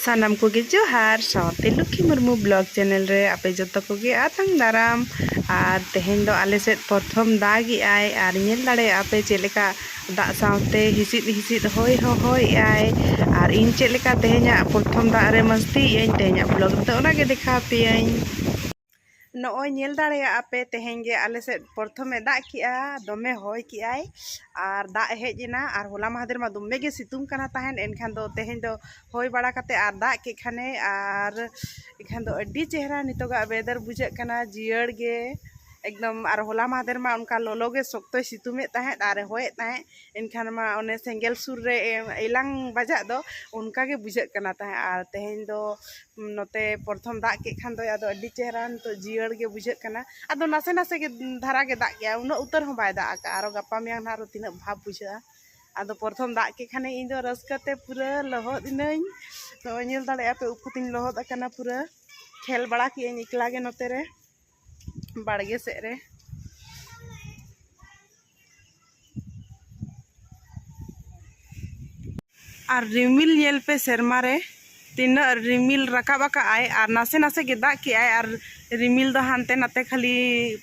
ᱥᱟᱱᱟᱢ ᱠᱚᱜᱮ ᱡᱚᱦᱟᱨ ᱥᱟᱶᱛᱮ ᱞᱩᱠᱷᱤ ᱢᱩᱨᱢᱩ ᱵᱞᱚᱜ ᱪᱮᱱᱮᱞ ᱨᱮ ᱟᱯᱮ ᱡᱚᱛᱚ ᱠᱚᱜᱮ ᱟᱛᱟᱝ ᱫᱟᱨᱟᱢ ᱟᱨ ᱛᱮᱦᱮᱧ ᱫᱚ ᱟᱞᱮ ᱥᱮᱫ ᱯᱨᱚᱛᱷᱚᱢ ᱫᱟᱜᱮᱜᱼᱟᱭ ᱟᱨ ᱧᱮᱞ ᱫᱟᱲᱮᱭᱟᱜᱼᱟ ᱯᱮ ᱪᱮᱫ ᱞᱮᱠᱟ ᱫᱟᱜ ᱥᱟᱶᱛᱮ ᱦᱤᱥᱤᱫ ᱦᱤᱥᱤᱫ ᱦᱚᱭ ᱦᱚᱸ ᱦᱚᱭᱮᱜᱼᱟᱭ ᱟᱨ ᱤᱧ ᱪᱮᱫ ᱞᱮᱠᱟ ᱛᱮᱦᱮᱧᱟᱜ ᱯᱨᱚᱛᱷᱚᱢ ᱫᱟᱜ ᱨᱮ ᱢᱟᱹᱥᱛᱤᱭᱮᱜᱼᱟᱹᱧ ᱛᱮᱦᱮᱧᱟᱜ ᱵᱞᱚᱜ ᱨᱮᱫᱚ ᱚᱱᱟᱜᱮ ᱫᱮᱠᱷᱟᱣ ᱯᱮᱭᱟᱹᱧ ᱱᱚᱜᱼᱚᱭ ᱧᱮᱞ ᱫᱟᱲᱮᱭᱟᱜᱼᱟ ᱯᱮ ᱛᱮᱦᱮᱧ ᱜᱮ ᱟᱞᱮ ᱥᱮᱫ ᱯᱨᱚᱛᱷᱚᱢᱮ ᱫᱟᱜ ᱠᱮᱜᱼᱟ ᱫᱚᱢᱮ ᱦᱚᱭ ᱠᱮᱜᱼᱟᱭ ᱟᱨ ᱫᱟᱜ ᱦᱮᱡ ᱮᱱᱟ ᱟᱨ ᱦᱚᱞᱟ ᱢᱟᱦᱫᱮᱨ ᱢᱟ ᱫᱚᱢᱮ ᱜᱮ ᱥᱤᱛᱩᱝ ᱠᱟᱱᱟ ᱛᱟᱦᱮᱸᱫ ᱮᱱᱠᱷᱟᱱ ᱫᱚ ᱛᱮᱦᱮᱧ ᱫᱚ ᱦᱚᱭ ᱵᱟᱲᱟ ᱠᱟᱛᱮᱫ ᱟᱨ ᱫᱟᱜ ᱠᱮᱫ ᱠᱷᱟᱱᱮ ᱟᱨ ᱮᱱᱠᱷᱟᱱ ᱫᱚ ᱟᱹᱰᱤ ᱪᱮᱦᱨᱟ ᱱᱤᱛᱚᱜᱟᱜ ᱚᱭᱮᱫᱟᱨ ᱵᱩᱡᱷᱟᱹᱜ ᱠᱟᱱᱟ ᱡᱤᱭᱟᱹᱲ ᱜᱮ ᱮᱠᱫᱚᱢ ᱟᱨ ᱦᱚᱞᱟ ᱢᱟᱦᱫᱮᱨ ᱢᱟ ᱚᱱᱠᱟ ᱞᱚᱞᱚ ᱜᱮ ᱥᱚᱠᱛᱚᱭ ᱥᱤᱛᱩᱝ ᱮᱫ ᱛᱟᱦᱮᱸᱫ ᱟᱨᱮ ᱦᱚᱭᱮᱫ ᱛᱟᱦᱮᱸᱫ ᱮᱱᱠᱷᱟᱱ ᱢᱟ ᱚᱱᱮ ᱥᱮᱸᱜᱮᱞ ᱥᱩᱨ ᱨᱮ ᱮᱞᱟᱝ ᱵᱟᱡᱟᱜ ᱫᱚ ᱚᱱᱠᱟ ᱜᱮ ᱵᱩᱡᱷᱟᱹᱜ ᱠᱟᱱᱟ ᱛᱟᱦᱮᱸᱫ ᱟᱨ ᱛᱮᱦᱮᱧ ᱫᱚ ᱱᱚᱛᱮ ᱯᱨᱚᱛᱷᱚᱢ ᱫᱟᱜ ᱠᱮᱜ ᱠᱷᱟᱱ ᱫᱚᱭ ᱟᱫᱚ ᱟᱹᱰᱤ ᱪᱮᱦᱨᱟ ᱱᱤᱛᱚᱜ ᱡᱤᱭᱟᱹᱲ ᱜᱮ ᱵᱩᱡᱷᱟᱹᱜ ᱠᱟᱱᱟ ᱟᱫᱚ ᱱᱟᱥᱮ ᱱᱟᱥᱮ ᱜᱮ ᱫᱷᱟᱨᱟ ᱜᱮ ᱫᱟᱜ ᱠᱮᱜᱼᱟᱭ ᱩᱱᱟᱹᱜ ᱩᱛᱟᱹᱨ ᱦᱚᱸ ᱵᱟᱭ ᱫᱟᱜ ᱠᱟᱜᱼᱟ ᱟᱨᱚ ᱜᱟᱯᱟ ᱢᱮᱭᱟᱝ ᱱᱟᱦᱟᱜ ᱟᱨᱚ ᱛᱤᱱᱟᱹᱜ ᱵᱷᱟᱵᱽ ᱵᱩᱡᱷᱟᱹᱜᱼᱟ ᱟᱫᱚ ᱯᱨᱚᱛᱷᱚᱢ ᱫᱟᱜ ᱠᱮᱜ ᱠᱷᱟᱱᱮ ᱤᱧ ᱫᱚ ᱨᱟᱹᱥᱠᱟᱹ ᱛᱮ ᱯᱩᱨᱟᱹ ᱞᱚᱦᱚᱫ ᱤᱱᱟᱹᱧ ᱱᱚᱜᱼᱚᱭ ᱧᱮᱞ ᱫᱟᱲᱮᱭᱟᱜᱼᱟ ᱯᱮ ᱩᱯᱩᱛᱤᱧ ᱞᱚᱦᱚᱫ ᱟᱠᱟᱱᱟ ᱯᱩᱨᱟᱹ ᱠᱷᱮᱞ ᱵᱟᱲᱟ ᱠᱮᱜ ᱟᱹᱧ ᱮᱠᱞᱟ ᱜᱮ ᱱᱚᱛᱮ ᱨᱮ ᱵᱟᱲᱜᱮ ᱥᱮᱫ ᱨᱮ ᱟᱨ ᱨᱤᱢᱤᱞ ᱧᱮᱞ ᱯᱮ ᱥᱮᱨᱢᱟ ᱨᱮ ᱛᱤᱱᱟᱹᱜ ᱨᱤᱢᱤᱞ ᱨᱟᱠᱟᱵ ᱟᱠᱟᱫ ᱟᱭ ᱟᱨ ᱱᱟᱥᱮ ᱱᱟᱥᱮ ᱜᱮ ᱫᱟᱜ ᱠᱮᱫ ᱟᱭ ᱟᱨ ᱨᱤᱢᱤᱞ ᱫᱚ ᱦᱟᱱᱛᱮ ᱱᱟᱛᱮ ᱠᱷᱟᱹᱞᱤ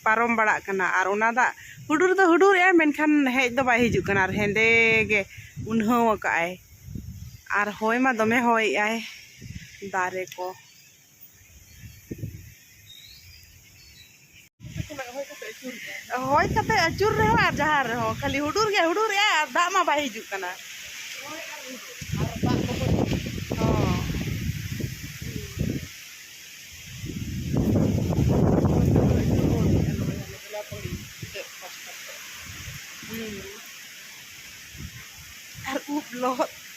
ᱯᱟᱨᱚᱢ ᱵᱟᱲᱟᱜ ᱠᱟᱱᱟ ᱟᱨ ᱚᱱᱟ ᱫᱟᱜ ᱦᱩᱰᱩᱨ ᱫᱚ ᱦᱩᱰᱩᱨ ᱮᱜᱼᱟᱭ ᱢᱮᱱᱠᱷᱟᱱ ᱦᱮᱡ ᱫᱚ ᱵᱟᱭ ᱦᱤᱡᱩᱜ ᱠᱟᱱᱟ ᱟᱨ ᱦᱮᱸᱫᱮ ᱜᱮ ᱩᱱᱦᱟᱹᱣ ᱟᱠᱟᱫ ᱟᱭ ᱟᱨ ᱦᱚᱭ ᱢᱟ ᱫᱚᱢᱮ ᱦᱚᱭᱮᱜ ᱟᱭ ᱫᱟᱨᱮ ᱠᱚ ᱦᱚᱭ ᱠᱟᱛᱮ ᱟᱹᱪᱩᱨ ᱨᱮᱦᱚᱸ ᱟᱨ ᱡᱟᱦᱟᱸ ᱨᱮᱦᱚᱸ ᱠᱷᱟᱹᱞᱤ ᱦᱩᱰᱩᱨ ᱜᱮ ᱦᱩᱰᱩᱨ ᱮᱜᱼᱟ ᱟᱨ ᱫᱟᱜ ᱢᱟ ᱵᱟᱭ ᱦᱤᱡᱩᱜ ᱠᱟᱱᱟ ᱟᱨ ᱩᱵ ᱞᱚᱦᱚᱫ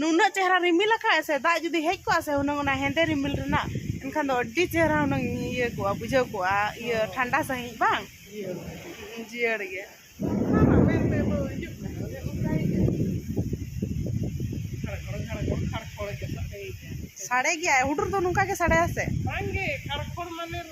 ᱱᱩᱱᱟᱹᱜ ᱪᱮᱦᱨᱟ ᱨᱤᱢᱤᱞ ᱟᱠᱟᱫ ᱥᱮ ᱫᱟᱜ ᱡᱩᱫᱤ ᱦᱮᱡ ᱠᱚᱜᱼᱟ ᱥᱮ ᱦᱩᱱᱟᱹᱝ ᱚᱱᱟ ᱦᱮᱸᱫᱮ ᱨᱤᱢᱤᱞ ᱨᱮᱱᱟᱜ ᱮᱱᱠᱷᱟᱱ ᱫᱚ ᱟᱹᱰᱤ ᱪᱮᱦᱨᱟ ᱦᱩᱱᱟᱹᱝ ᱤᱭᱟᱹ ᱠᱚᱜᱼᱟ ᱵᱩᱡᱷᱟᱹᱣ ᱠᱚᱜᱼᱟ ᱤᱭᱟᱹ ᱴᱷᱟᱱᱰᱟ ᱥᱟᱺᱦᱤᱡ ᱵᱟᱝ ᱡᱤᱭᱟᱹᱲ ᱜᱮ ᱥᱟᱰᱮ ᱜᱮᱭᱟ ᱦᱩᱰᱩᱨ ᱫᱚ ᱱᱚᱝᱠᱟ ᱜᱮ ᱥᱟᱰᱮᱭᱟ ᱥᱮ ᱵᱟᱝᱜᱮ ᱠᱷᱟᱲ ᱠᱷᱚᱲ ᱢᱟᱱᱮ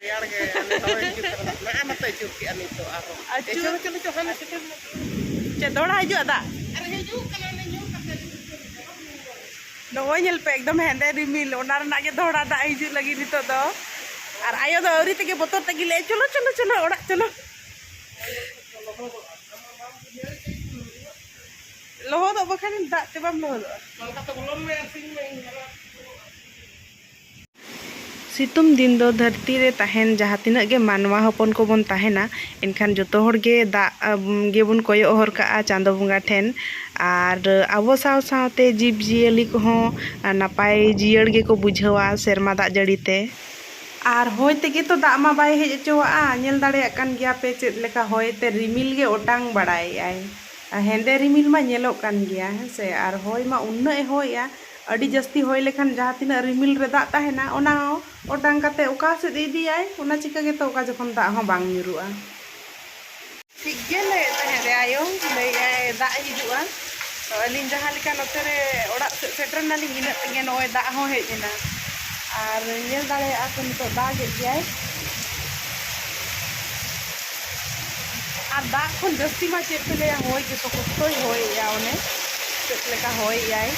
ᱨᱮᱭᱟᱲ ᱜᱮ ᱪᱮᱫ ᱫᱚᱲᱟ ᱦᱤᱡᱩᱜᱼᱟ ᱫᱟᱜ ᱱᱚᱜᱼᱚᱭ ᱧᱮᱞ ᱯᱮ ᱮᱠᱫᱚᱢ ᱦᱮᱸᱫᱮ ᱨᱤᱢᱤᱞ ᱚᱱᱟ ᱨᱮᱱᱟᱜ ᱜᱮ ᱫᱚᱦᱲᱟ ᱫᱟᱜ ᱦᱤᱡᱩᱜ ᱞᱟᱹᱜᱤᱫ ᱱᱤᱛᱚᱜ ᱫᱚ ᱟᱨ ᱟᱭᱳ ᱫᱚ ᱟᱹᱣᱨᱤ ᱛᱮᱜᱮ ᱵᱚᱛᱚᱨ ᱛᱮᱜᱮ ᱞᱟᱹᱭ ᱪᱚᱞᱚ ᱪᱚᱞᱚ ᱪᱚᱞᱚ ᱚᱲᱟᱜ ᱪᱚᱞᱚ ᱞᱚᱦᱚᱫᱚᱜ ᱵᱟᱠᱷᱟᱱ ᱫᱟᱜ ᱛᱮ ᱵᱟᱢ ᱞᱚᱦᱚᱫᱚᱜᱼᱟ ᱥᱤᱛᱩᱝ ᱫᱤᱱ ᱫᱚ ᱫᱷᱟᱹᱨᱛᱤ ᱨᱮ ᱛᱟᱦᱮᱱ ᱡᱟᱦᱟᱸ ᱛᱤᱱᱟᱹᱜ ᱜᱮ ᱢᱟᱱᱣᱟ ᱦᱚᱯᱚᱱ ᱠᱚᱵᱚᱱ ᱛᱟᱦᱮᱱᱟ ᱮᱱᱠᱷᱟᱱ ᱡᱚᱛᱚ ᱦᱚᱲ ᱜᱮ ᱫᱟᱜ ᱜᱮᱵᱚᱱ ᱠᱚᱭᱚᱜ ᱦᱚᱨ ᱠᱟᱜᱼᱟ ᱪᱟᱸᱫᱚ ᱵᱚᱸᱜᱟ ᱴᱷᱮᱱ ᱟᱨ ᱟᱵᱚ ᱥᱟᱶ ᱥᱟᱶᱛᱮ ᱡᱤᱵᱽ ᱡᱤᱭᱟᱹᱞᱤ ᱠᱚᱦᱚᱸ ᱱᱟᱯᱟᱭ ᱡᱤᱭᱟᱹᱲ ᱜᱮᱠᱚ ᱵᱩᱡᱷᱟᱹᱣᱟ ᱥᱮᱨᱢᱟ ᱫᱟᱜ ᱡᱟᱹᱲᱤ ᱛᱮ᱾ ᱟᱨ ᱦᱚᱭ ᱛᱮᱜᱮ ᱛᱚ ᱫᱟᱜ ᱢᱟ ᱵᱟᱭ ᱦᱮᱡ ᱚᱪᱚᱣᱟᱜᱼᱟ᱾ ᱧᱮᱞ ᱫᱟᱲᱮᱭᱟᱜ ᱠᱟᱱ ᱜᱮᱭᱟ ᱯᱮ ᱪᱮᱫ ᱞᱮᱠᱟ ᱦᱚᱭ ᱛᱮ ᱨᱤᱢᱤᱞ ᱜᱮ ᱚᱴᱟᱝ ᱵᱟᱲᱟᱭᱮᱜᱼᱟᱭ᱾ ᱦᱮᱸᱫᱮ ᱨᱤᱢᱤᱞ ᱢᱟ ᱧᱮᱞᱚᱜ ᱠᱟᱱ ᱜᱮᱭᱟ ᱦᱮᱸ ᱥᱮ ᱟᱨ ᱦᱚᱭ ᱢᱟ ᱩᱱᱟᱹᱜ ᱮ ᱦᱚᱭᱮᱜᱼᱟ᱾ ᱟᱹᱰᱤ ᱡᱟᱹᱥᱛᱤ ᱦᱚᱭ ᱞᱮᱠᱷᱟᱱ ᱡᱟᱦᱟᱸ ᱛᱤᱱᱟᱹᱜ ᱨᱤᱢᱤᱞ ᱨᱮ ᱫᱟᱜ ᱛᱟᱦᱮᱱᱟ ᱚᱱᱟ ᱦᱚᱸ ᱚᱴᱟᱝ ᱠᱟᱛᱮ ᱚᱠᱟ ᱥᱮᱫ ᱤᱫᱤᱭᱟᱭ ᱚᱱᱟ ᱪᱤᱠᱟᱹ ᱜᱮᱛᱚ ᱚᱠᱟ ᱡᱚᱠᱷᱚᱱ ᱫᱟᱜ ᱦᱚᱸ ᱵᱟᱝ ᱧᱩᱨᱩᱜᱼᱟ᱾ ᱴᱷᱤᱠ ᱜᱮ ᱞᱟᱹᱭᱮᱫ ᱛᱟᱦᱮᱸᱫ ᱨᱮ ᱟᱭᱳ ᱞᱟᱹᱭᱮᱫ ᱟᱭ ᱫᱟᱜ ᱦᱤᱡᱩᱜᱼᱟ ᱛᱚ ᱟᱹᱞᱤᱧ ᱡᱟᱦᱟᱸ ᱞᱮᱠᱟ ᱱᱚᱛᱮ ᱨᱮ ᱚᱲᱟᱜ ᱥᱮᱫ ᱥᱮᱴᱮᱨ ᱱᱟᱞᱤᱧ ᱤᱱᱟᱹᱜ ᱛᱮᱜᱮ ᱱᱚᱜᱼᱚᱭ ᱫᱟᱜ ᱦᱚᱸ ᱦᱮᱡ ᱮᱱᱟ ᱟᱨ ᱧᱮᱞ ᱫᱟᱲᱮᱭᱟᱜᱼᱟ ᱠᱚ ᱱᱤᱛᱚᱜ ᱫᱟᱜᱮᱫ ᱜᱮᱭᱟᱭ᱾ ᱟᱨ ᱫᱟᱜ ᱠᱷᱚᱱ ᱡᱟᱹᱥᱛᱤ ᱢᱟ ᱪᱮᱫ ᱯᱮ ᱞᱟᱹᱭᱟ ᱦᱚᱭ ᱜᱮ ᱥᱚᱠᱚᱥᱛᱚᱭ ᱦᱚᱭᱮᱜᱼᱟ ᱚᱱᱮ ᱪᱮᱫ ᱞᱮᱠᱟ ᱦᱚᱭᱮᱜᱼᱟᱭ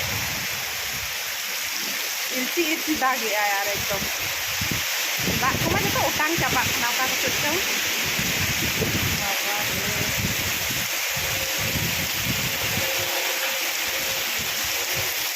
ᱤᱨᱪᱤ ᱤᱨᱪᱤ ᱫᱟᱜᱮᱜᱼᱟᱭ ᱟᱨ ᱮᱠᱫᱚᱢ ᱫᱟᱜ ᱠᱚᱢᱟ ᱡᱚᱛᱚ ᱚᱴᱟᱝ ᱪᱟᱵᱟᱜ ᱠᱟᱱᱟ ᱚᱠᱟ ᱠᱚᱥᱮᱫ ᱪᱚᱝ ᱵᱟᱵᱟ ᱨᱮ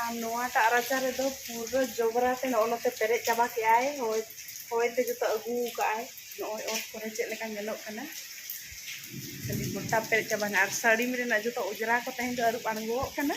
ᱟᱨ ᱱᱚᱣᱟᱴᱟᱜ ᱨᱟᱪᱟ ᱨᱮᱫᱚ ᱯᱩᱨᱟᱹ ᱡᱚᱵᱽᱨᱟ ᱛᱮ ᱱᱚᱜᱼᱚ ᱱᱚᱛᱮ ᱯᱮᱨᱮᱡ ᱪᱟᱵᱟ ᱠᱮᱜᱼᱟᱭ ᱦᱚᱭ ᱦᱚᱭ ᱛᱮ ᱡᱚᱛᱚ ᱟᱹᱜᱩ ᱠᱟᱜᱼᱟᱭ ᱱᱚᱜᱼᱚᱭ ᱚᱛ ᱠᱚᱨᱮ ᱪᱮᱫ ᱞᱮᱠᱟ ᱧᱮᱞᱚᱜ ᱠᱟᱱᱟ ᱠᱷᱟᱹᱞᱤ ᱜᱚᱴᱟ ᱯᱮᱨᱮᱡ ᱪᱟᱵᱟᱭᱮᱱᱟ ᱟᱨ ᱥᱟᱹᱲᱤᱢ ᱨᱮᱱᱟᱜ ᱡᱚᱛᱚ ᱚᱡᱽᱨᱟ ᱠᱚ ᱛᱮᱦᱮᱧ ᱫᱚ ᱟᱹᱨᱩᱵ ᱟᱬᱜᱚᱣᱟᱜ ᱠᱟᱱᱟ